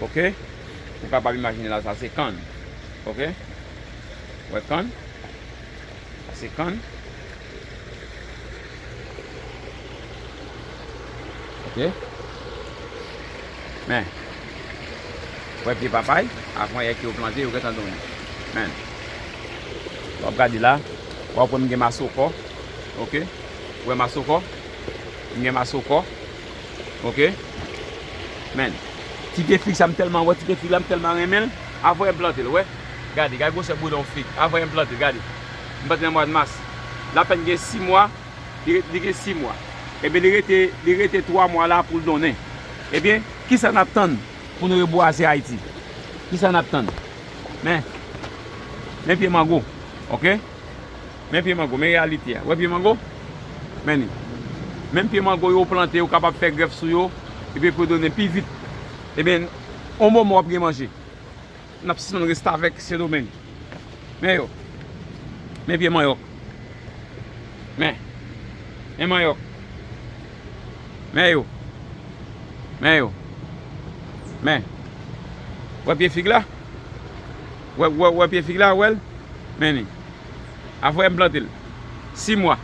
Ok ou kapab imajine la sa se kann ok ou wè kann sa se kann ok men ou wè pye papay avan yè ki yo plante yo gentan donn men wap gade la wap wè m gen masoko ok. Ou wè masokò? M gen masokò ok men ti de fig sa m tèlman wè ti de fig la m tèlman renmen l avwe m plante l ou wè gade gade gwosè boudon yon fig avwe m plante l gade m plante l nan mwad mas l apèn gen 6 mwa li gen 6 mwa ebyen li rete li rete 3 mwa la pou l donnen ebyen kisa n ap tann pou nou rebwaze Ayiti kisa n ap tann men men pye mango ok. Men pye mango, men reyalite a. Wè pye mango? Men li. Menm pye mango yo ou plante ou kapab fè grèf sou yo epi pou yo donnen pi vit. Ebyen, yon moman w ap gen manje. N ap sispann restavèk Sendomeng. Men yo. Men pye manyòk. Men. Men manyòk. Men yo. Men yo. Men. Wè pye fig la? Wè pye fig la, wè l? Men li. Afè m plante l. 6 mwa.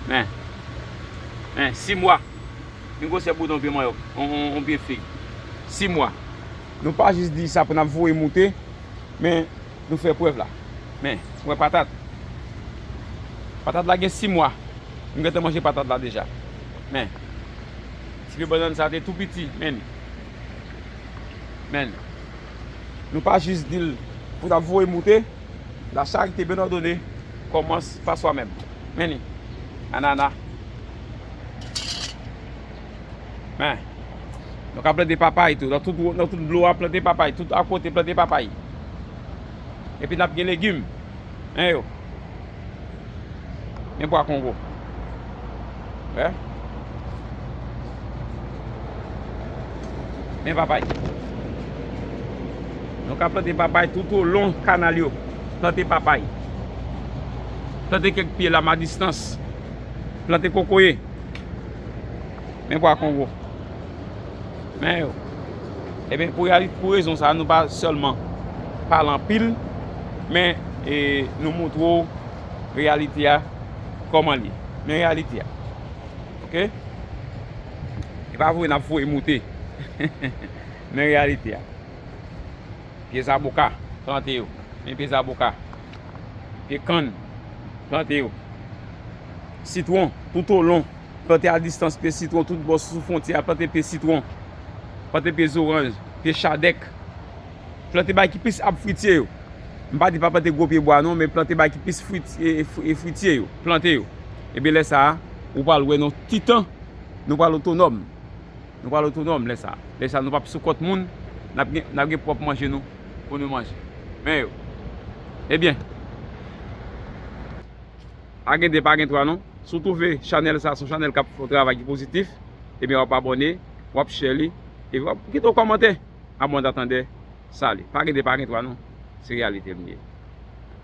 Men. Men, 6 mwa. Yon gwosè bouton yon pye manyòk. Yon pye fig. 6 mwa. Nou pa jis di sa pou n ap voye moute, men, nou fè prèv la. Men, ou wè patat. Patat la gen 6 mwa. M gentan manje patat la deja. Men. Ti pye bannann sa a te tou piti. Men li. Men, nou pa jis di l pou ta voye moute, la charite ben òdone kòmanc pa swa menm. Men li, anana. Men, nou ka plante papay tou, nan tout dlo a plante papay, tout akote plante papay. Epi n ap gen legim. Hein yo. Gen pwa kongo. Hein. Men papay. Nou ka plante papay tout ou lon kanal yo. Plante papay. Plante kek pye la ma distans. Plante kokoye. Men pwa kongo. Men yo. Eben pou reali, pou rezon sa, nou pa sèlman pale anpil, men nou moutre ou reyalite a kòman li. Men reyalite a. Ok? E pa voye nap voye moute. Men reyalite a. Pye zaboka, plante yo. Men pye zaboka. Pye kann, plante yo. Sitwon, toutolon, Plante a distans pye sitwon tout bò sou fwontyè a plante pye sitwon plante pye zoranj pye chadèk plante bagay ki plis ab fritye yo m pa di pa plante gwo pye bwa non men plante bagay ki plis fri fritye yo plante yo ebyen lè sa a ou pral wè nan ti tan nou pral otonòm nou pral otonòm lè sa a lè sa a nou pap sou kont moun n ap gen n ap gen pwòp manje nou pou nou manje men yo ebyen. Pa gen 2 pa gen 3 non Si w twouve chanèl sa son chanèl k ap fè yon travay ki pozitif Ebyen w ap abòne W ap share li Epi w ap kite yon kòmantè Abòne Atandè Sali Pa gen 2 pa gen 3 non Se reyalite l ye